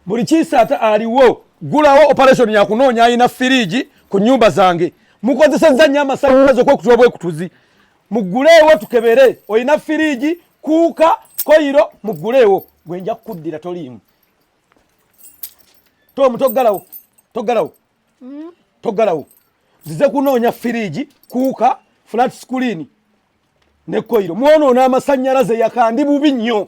buli kisaata aliwo gulawo operation yakunoonya alina firiji ku nyumba zange mukozesezza nnyo amasanyalaze okwekutula obwekutuzi muguleewo tukebere olina firiji kuuka koyiro muguleewo gwe nja kukuddira toliimu tomu toggalawo toggalawo hmm? toggalawo zize kunoonya firiji kuuka flat screen ne koyiro mwonoona amasanyalaze yakandi bubi nnyo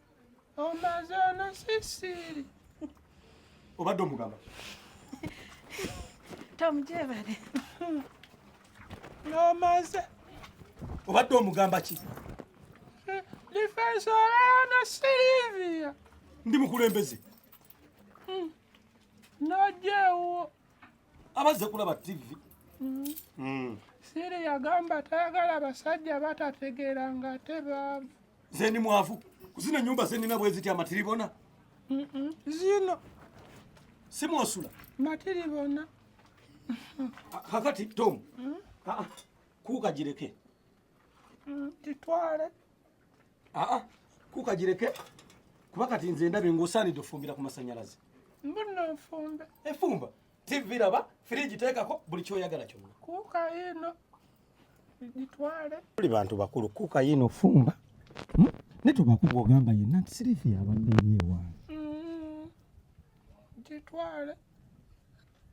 omaze ono sisiri obadde omugamba tomujebale nomaze obadde omugamba ki difensi olana silivia ndi mukulembeze hmm. nojewo abazze kulaba tivi hmm. hmm. siri yagamba tayagala basajja batategeera ng'ate baavu nze ndi mwavu kuzina nyumba zenina bweziti amatiribona zino simwosula matiribona kakati tom mm? ah, ah. kukagireke mm, kitwale ah, kukagireke kuba kati nze ndabe ngaosaanidde ofumbira ku masanyalaze mbona nfumbe efumba tv laba firiji teekako buli kyoyagala kyonna kuka ino gitwale tuli bantu bakulu kuka yino fumba hmm? ne tubakuba ogamba yenna nti sirifi yabadde eri ewange hmm. gitwale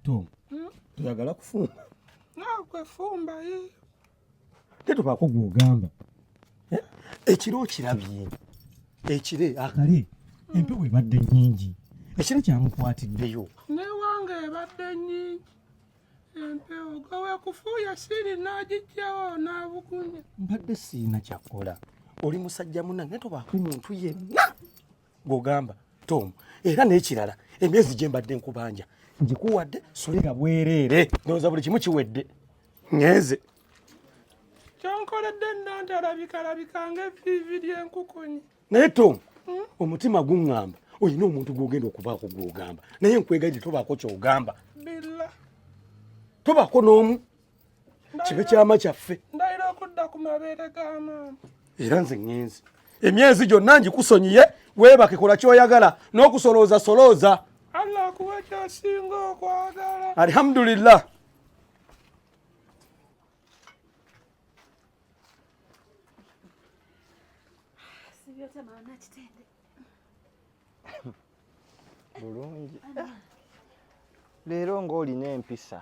to hmm? toyagala kufumba nakwefumba ye te tubakuba ogamba eh? ekiro okirabye ekire akale empewo ebadde nyingi ekiro kyamukwatiddeyo newange ebadde nyingi empewo gawe kufuuya siri n'agijjawo n'abukunya mbadde siina kyakola oli musajja munange tobaako muntu yenna gwogamba tom era n'ekirala emyezi gye mbadde nkubanja ngikuwadde sulira bwereere ndowooza buli kimu kiwedde ŋenze kyonkoledde nantalabikalabika ng'eviivi ly'enkukunyi naye tom hmm? omutima guŋŋamba olina omuntu gwogenda okubaako gwogamba naye nkwegaidde tobaako kyogamba tobaako n'omu kibe kyama kyaffe ndayira okudda ku mabeere ga maama era nze ŋŋenzi emyezi gyonna ngikusonyiye weebake kola kyoyagala n'okusolooza solooza allah akuwa kyasinga okwagala alhamdulillah bulungi leero ng'olina empisa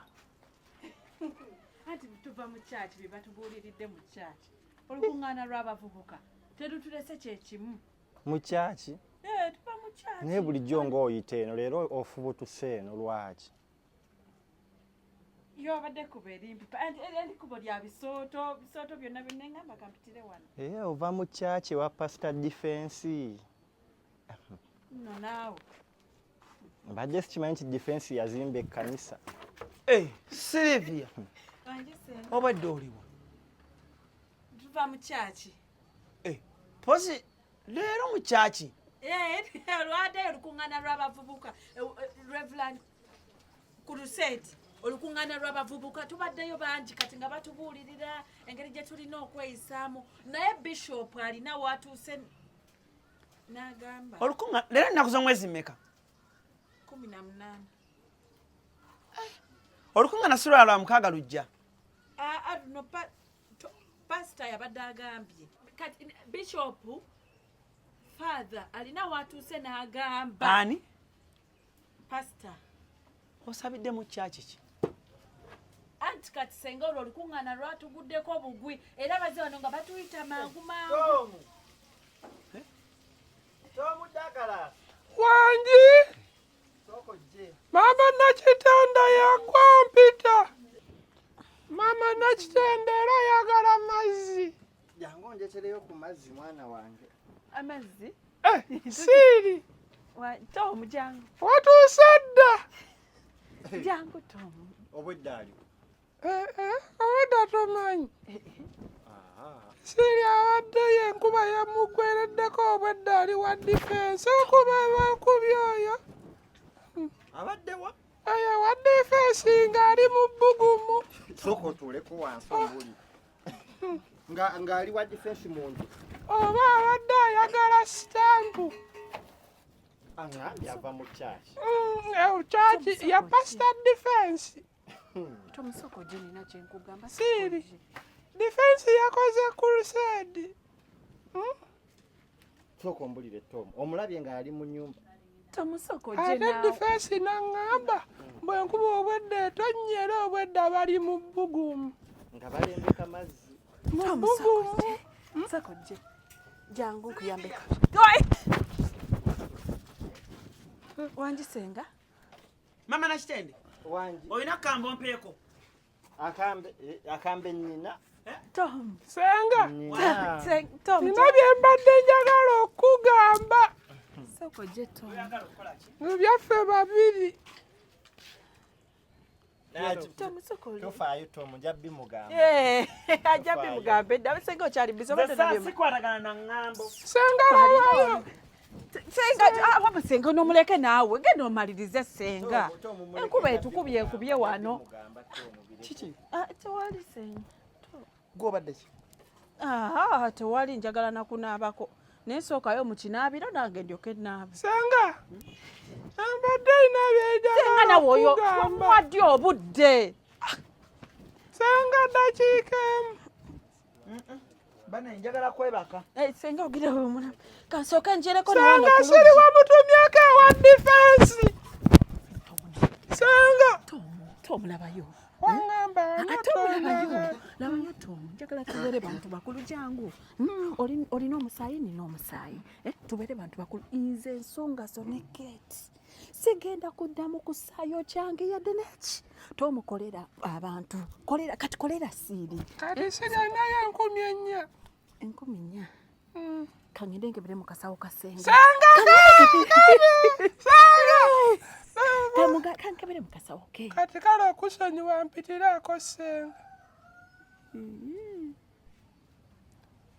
anti tuva mu kyaki bye batubuuliridde mu kyaki olukuŋŋaana lw'abavubuka terutulese kye kimu mu kyaki eh, naye bulijjo ng'oyita eno leero ofubutuse eno lwaki yobadde kuba erimpipa eri kubo lya bisooto bisooto byonna byonna engamba kampitire wano ee eh, ova mu kyaki wa pasita difensi no naawe mbadde sikimanyi nti difensi yazimba ekkanisa ee eh, silivia obadde oliwa tuva mu kyaki ee eh, pozi leero mu kyaki eh, olwadayo olukuŋŋaana lw'abavubuka eh, eh, reveland crusade olukuŋŋaana lw'abavubuka tubaddeyo bangi kati nga batubuulirira engeri gye tulina okweyisaamu naye bishop alina watuuse n'agamba olukuŋa leero ennaku z'omwezi mmeka kumi na munaana olukuŋŋaana si lwalwa mukaaga lujja ah, ah, pasita yabadde agambye kati bishop father alina watuuse n'agamba ani pasita osabidde mu kyaki ki anti kati senga olwo olukuŋŋaana lwatuguddeko bugwi era baze wano nga batuyita mangu mangu eh? wangi Mama Nakitanda yagwa mpita. Mama Nakitanda era ayagala mazzi. Jangu njetereyo ku mazzi mwana wange. Amazzi? Eh, siri. Wa Tom jangu. Watuusa dda. Jangu Tom. Obwedda ali. Eh, eh, obadde tomanyi siri abadde ye enkuba yamuggwereddeko obwedda ali wa difensi okuba bakubi oyo abadde wa oyo wa difensi ng'ali mu bbugumu sooka otuuleko wansi omuli ng'ali wa difensi mu nju oba abadde ayagala sitampu yava mu kyaki mm, eh, ya pasita difensi Siri defense yakoze crusade. Hmm? Soko mbulire Tom. Omulabye nga yali mu nyumba. Tomusoko jena. Ate defense nangamba bwe nkuba obwedde tonyera obwedde abali mu bugumu. Nga balembeka mazzi. Mu bugumu. Hmm? Soko je. Jangu kuyambeka. Wanjisenga. mama nakitende wangi olina kambo mpeeko akambe eh, akambe nina eh? tom senga nina byembadde njagala okugamba mu byaffe babiri tofaayo tom nja bimugamba eh, ajja bimugambe dda senga okyali bizo senga lawayo senga ah, waba senga onomuleke naawe genda omalirize senga enkuba etukubye ekubye wano kiki ah, tewali senga gwobaddeki aha tewali njagala nakunaabako naye sookayo mukinaabiro nange ndyoke naaba senga ambadde inabyejagasenga nawe oyo mwaddi obudde senga dakiika emu bana njagala kwebaka eh, senga ogira omwana kansooka njereko sanga siri wamutumyeko ewa difensi sanga tomulabayo bantu bakulu jangu hmm, olina omusaayi nina omusaayi eh, tubeere bantu bakulu nze ensonga zo ne kate sigenda kuddamu kusaayo kyange yadde neki tomukolera abantu kolera kati kolera siiri kati siganayo enkumi ennya enkumi nnya hmm. kangende nkebere mu kasawo kasenga kankebere mu kasawo ke kati kale okusonyiwa mpitiraako senga hmm.